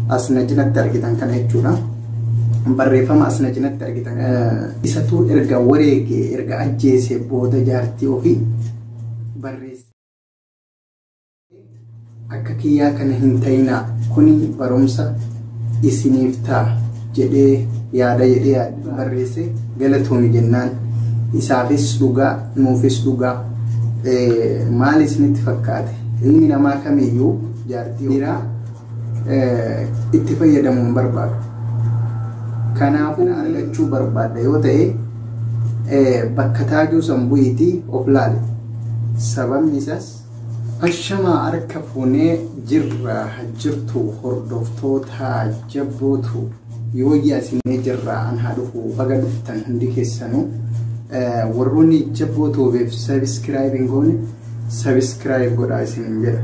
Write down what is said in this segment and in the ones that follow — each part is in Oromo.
as na cinatti argitan kana jechuudha. Barreeffama as na cinatti argitan isatuu erga wareege erga ajjeese booda jaartii ofii barreesse. Akka kiyyaa kana hin ta'inaa kuni barumsa isiniif ta'a jedhee yaada jedhee barreesse galatoomi jennaan isaafis dhugaa nuufis dhugaa maal isinitti fakkaate ilmi namaa kamiyyuu jaartii dhiiraa itti fayyadamuu hin barbaadu. Kanaafuu argachuu barbaadda yoo ta'e bakka taajuu san bu'iitii of laali. Sababni isaas Ashamaa harka fuunee jirra jirtu hordoftoota jabbootu. Yooyya isinee jirra an haa dhufu baga dhuftan hundi keessanuu warroonni jabboo toobeef sabiskiraayib hin goone sabiskiraayib godhaa isinin jedha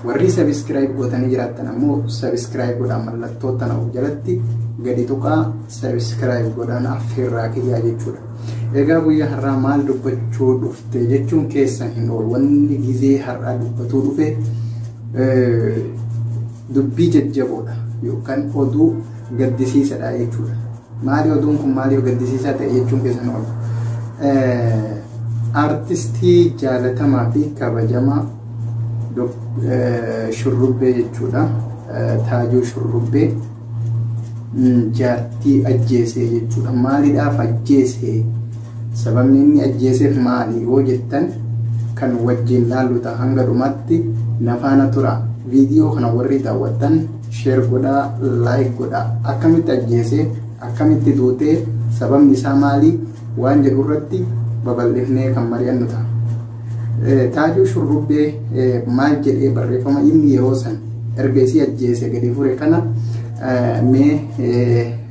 warri sabiskiraayib gootanii jiraattan ammoo sabiskiraayib godhaa mallattoo tana of jalatti gadi tuqaa sabiskiraayib godhaan affeerraa kiyyaa jechuudha. Egaa guyyaa har'aa maal dubbachuu dhufte jechuun keessan hin oolu wanni gizee har'aa dubbatuu dhufe Dubbii jajjaboodha yookan oduu gaddisiisadha jechuudha. Maali oduun kun maali yoo gaddisiisaa ta'e jechuun keessan oolu. Artistii jaalatamaa fi kabajamaa shurrubbee jechuudha. Taajuu shurrubbee jaartii ajjeesee jechuudha. Maaliidhaaf ajjeesee? Sababni inni ajjeeseef maali yoo jettan kan wajjin laallu ta'a hanga dhumaatti na faana tura. Viidiyoo kana warri daawwattan sheer godhaa, laayik godhaa. Akkamitti ajjeese, akkamitti duute, sababni isaa maali waan jedhu irratti babal'ifnee kan mari'annu ta'a. Taajuu shurrubbee maal jedhee barreeffama inni yeroo san erga isii ajjeese gadi fure kana mee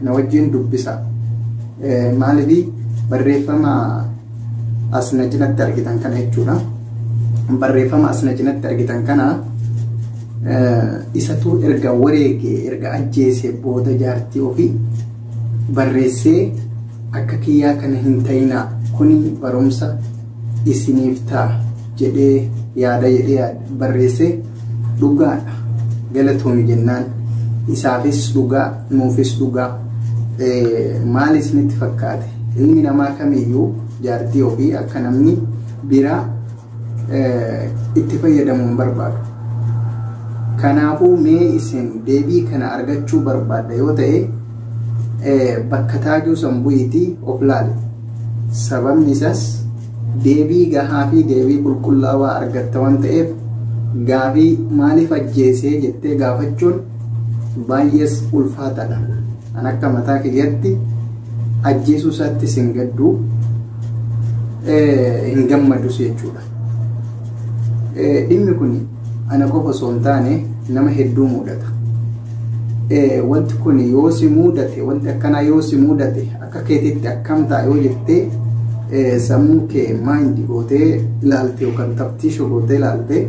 na wajjin dubbisa. Maalifi barreeffama asna cinatti argitan kana jechuudha. Barreeffama asna cinatti argitan kana isatu erga wareege erga ajjeese booda jaartii ofii barreessee akka kiyyaa kana hin ta'inaa kuni barumsa isiniif ta'a jedhee yaada jedhee barreesse dhugaadha galatoomi jennaan isaafis dhugaa nuufis dhugaa maal isinitti fakkaate ilmi namaa kamiyyuu jaartii ofii akka namni biraa itti fayyadamu hin barbaadu. Kanaafuu mee isin deebii kana argachuu barbaadda yoo ta'e bakka taajuu san bu'iitii of laali. Sababni isaas deebii gahaa fi deebii qulqullaawaa argatta waan ta'eef gaafii maaliif ajjeesee jettee gaafachuun baay'ees ulfaataadha. An akka mataa kiyyatti ajjeesuu isaatti sin gadduu hin gammadus jechuudha. Dhimmi kun ana qofa osoo hin taane nama hedduu mudata. Wanti kun yoo si mudate wanti akkanaa yoo si mudate Akka keetiitti akkam ta'a yoo jettee sammuu kee maayindi gootee ilaalte yookaan taftiisha gootee ilaalte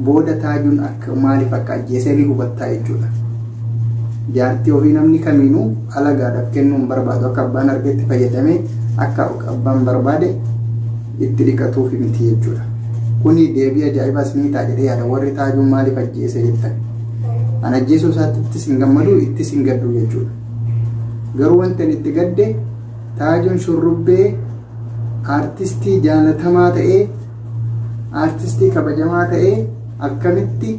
booda taajuun akka maaliif akka ajjeesee ni hubattaa jechuudha. Jaartii ofii namni kamiinuu alagaadhaaf kennuu hin barbaadu akka abbaan argetti fayyadamee akka abbaan barbaade itti dhiqatuuf miti jechuudha. Kuni deebii ajaa'ibaas ni ta'a jedhee yaada warri taajuun maaliif ajjeese jettan. An ajjeesuu isaattis hin gammadu ittis hin gaddu jechuudha. Garuu wanti ani itti gadde Taajuun shurrubbee aartistii jaalatamaa ta'ee aartistii kabajamaa ta'ee akkamitti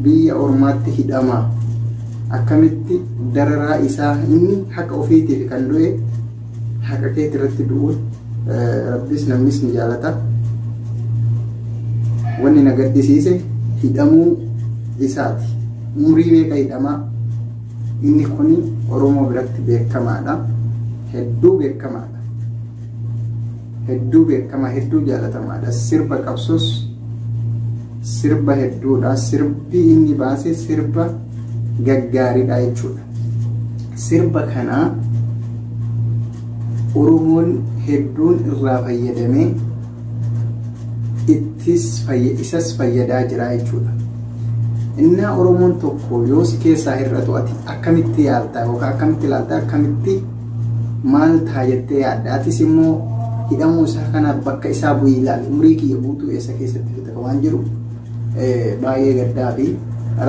biyya ormaatti hidhama akkamitti dararaa isaa inni haqa ofiitiif kan du'e haqa keetti irratti du'uun rabbis namnis ni jaalata wanni na gaddisiise hidhamuu isaati umrii meeqa hidhamaa Inni kun Oromoo biratti beekamaadha. Hedduu beekamaadha. Hedduu beekamaa, hedduu jaalatamaadha. Sirba qabsoos sirba hedduudha. Sirbi inni baase sirba gaggaaridha jechuudha. Sirba kana Oromoon hedduun irraa fayyadamee ittis fayya isas fayyadaa jira jechuudha. Innaa Oromoon tokko yoo si keessaa hir'atu ati akkamitti yaaltaa yookaan akkamitti ilaaltaa akkamitti maal ta'a jettee yaadda atis immoo hidhamuu isaa kana bakka isaa bu'ii ilaali umurii kiyya guutuu eessa keessatti fita waan jiru baay'ee gaddaa fi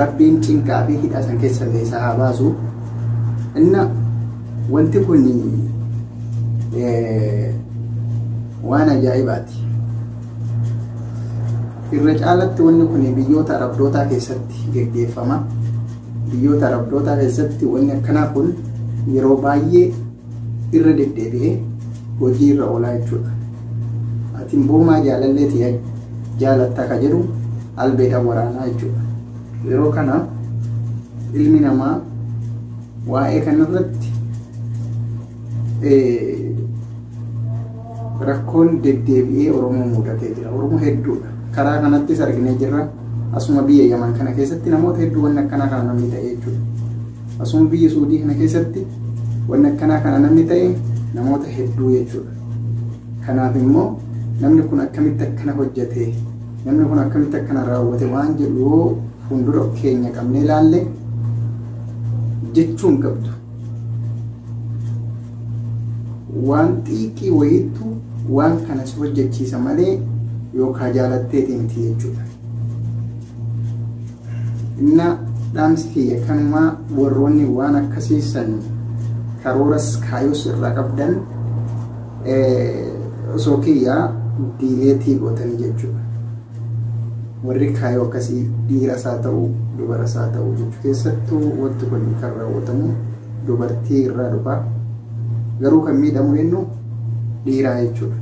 rabbiin cinqaa fi hidhaa san keessa illee isaa haa baasu. Inna Wanti kun waan ajaa'ibaati. Irra caalatti wanni kun biyyoota arabdootaa keessatti geggeeffama. Biyyoota arabdootaa keessatti wanni akkanaa kun yeroo baay'ee irra deddeebi'ee hojii irra oolaa jechuudha. Ati boomaa jaalallee ta'e jaalatta ka jedhu albeedhaan waraanaa jechuudha. Yeroo kana ilmi namaa Waa'ee kanarratti rakkoon deddeebi'ee Oromoo mudatee jira. Oromoo hedduudha. Karaa kanattis arginee jirra. Asuma biyya Yaman kana keessatti namoota hedduu wanni akkanaa kana namni ta'e jechuudha. Asuma biyya Suudii kana keessatti wanni akkanaa kana namni ta'e namoota hedduu jechuudha. Kanaaf immoo namni kun akkamitti akkana hojjetee Namni kun akkamitti akkana raawwate waan jedhu yoo fuuldura keenya qabnee ilaalle jechuun qabdu. Waan xiiqii wayiittu waan kana si hojjechiisa malee yookaan jaalatteetii miti jechuudha. Inna dhaamsi kiyya kanumaa warroonni waan akkasiisan karooras kaayos irraa qabdan osoo kiyyaa diileetii gootanii jechuudha. Warri kaayoo akkasii dhiira isaa ta'u dubara isaa ta'u jechuu keessattuu wanti kun kan raawwatamu dubartii irraa dhufa. Garuu kan miidhamu eenyu dhiiraa jechuudha.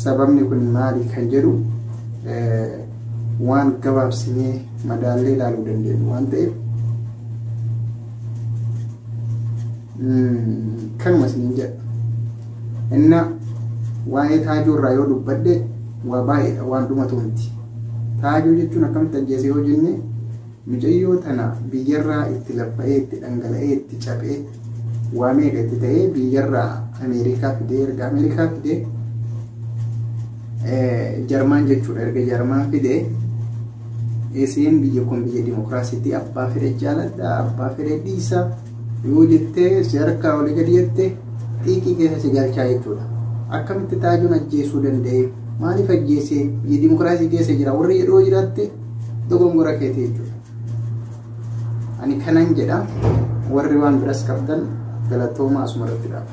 Sababni kun maali kan jedhu waan gabaabsinee madaallee ilaaluu dandeenyu waan ta'eef Kanuma siin jedha. Inna waa'ee taajuu irraa yoo dubbadhe waa baay'eedha waan dhumatu miti. Taajuu jechuun akkamitti ajjeese yoo jenne mucayyoo tana biyyarraa itti laffa'ee itti dhangala'ee itti caphee waa meeqa itti ta'ee biyyarraa Ameerikaa fidee erga Ameerikaa fidee Jarmaan jechuudha erga Jarmaan fidee isiin biyya kun biyya dimokiraasiitti abbaa fedhe jaaladha abbaa fedhe dhiisa. Yoo jettee si harkaa olii gadi jette xiiqii keessa si galchaa jechuudha. Akkamitti taajuun ajjeesuu danda'e? Maaliif ajjeese? Biyya dimokiraasii keessa jira. Warri jedhoo jiraatte dogongora keeti jechuudha. Ani kanan jedha warri waan biras qabdan galatoomaa asuma irratti dhaaba.